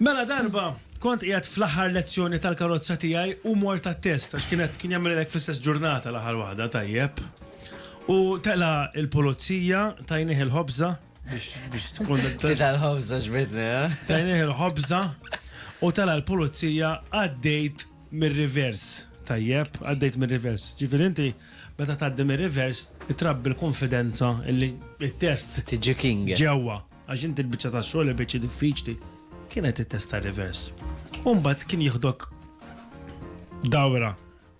Mela darba kont qiegħed fl-aħħar lezzjoni tal-karozza tiegħi u mort għat-test għax kienet kien jagħmel hekk fl-istess ġurnata l-aħħar waħda tajjeb u tela' l-pulizija tajnih il-ħobża biex biex tkun Tita l-ħobża ġbidni, ha? tajnih il-ħobża u tela' l-pulizija għaddejt mir-rivers tajjeb għaddejt mir-rivers. Ġifieri inti meta tgħaddi mir-rivers trabbi l-kunfidenza li t-test Tiġi king. ġewwa. Għax inti l-biċċa tax-xogħol il-biċċa diffiċli kienet it-testa rivers. U mbagħad kien jieħdok dawra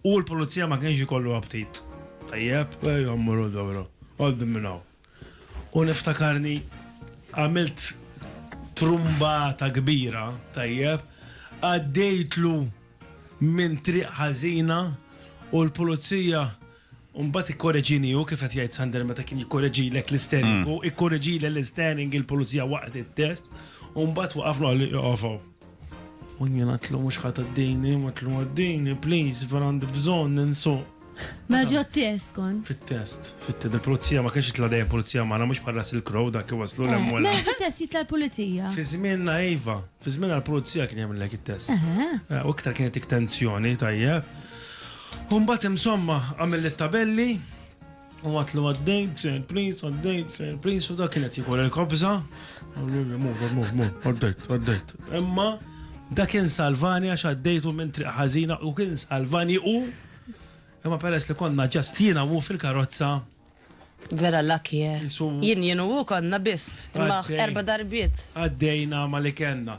u l-pulizija ma kienx ikollu aptit. Tajjeb, ejja mmorru dawra, għoddim minn hawn. U niftakarni għamilt trumbata kbira, tajjeb, għaddejtlu minn triq ħażina u l-pulizija U mbagħad ikkoreġini hu kif qed jgħid Sander meta kien jikkoreġilek l-isterning, hu ikkoreġili l-isterning il-pulizija waqt it-test, u mbagħad waqaflu għal joqgħof hawn. U jien għatlu mhux ħadd għaddini, għatlu għaddini, please, vera għandi bżonn ninsuq. Mela ġo t-test kon. Fit-test, fit-test, il-pulizija ma kienx jitla dejjem pulizija magħna mhux bħal Russell Crowe dak iwaslu l-hemm u l-hemm. Mela fit-test jitla l-pulizija. Fi żmienna iva. Fi żmien għall-pulizija kien jagħmel hekk it-test. Eh, u iktar kienet ik tensjoni tajjeb. U mbagħad insomma għamel it-tabelli u għatlu għaddejt, sir prince, għaddejt, sir prince, u dak kienet jikol il-kobza. Għaddejt, għaddejt. Imma dak kien salvani għax għaddejtu minn triq ħażina u kien salvani u imma peress li konna ġastina u fil-karozza Vera lucky eh. Insomma. Jien jien u hu konna biss. Imma Għaddej. erba' darbiet. Għaddejna ma li kellna.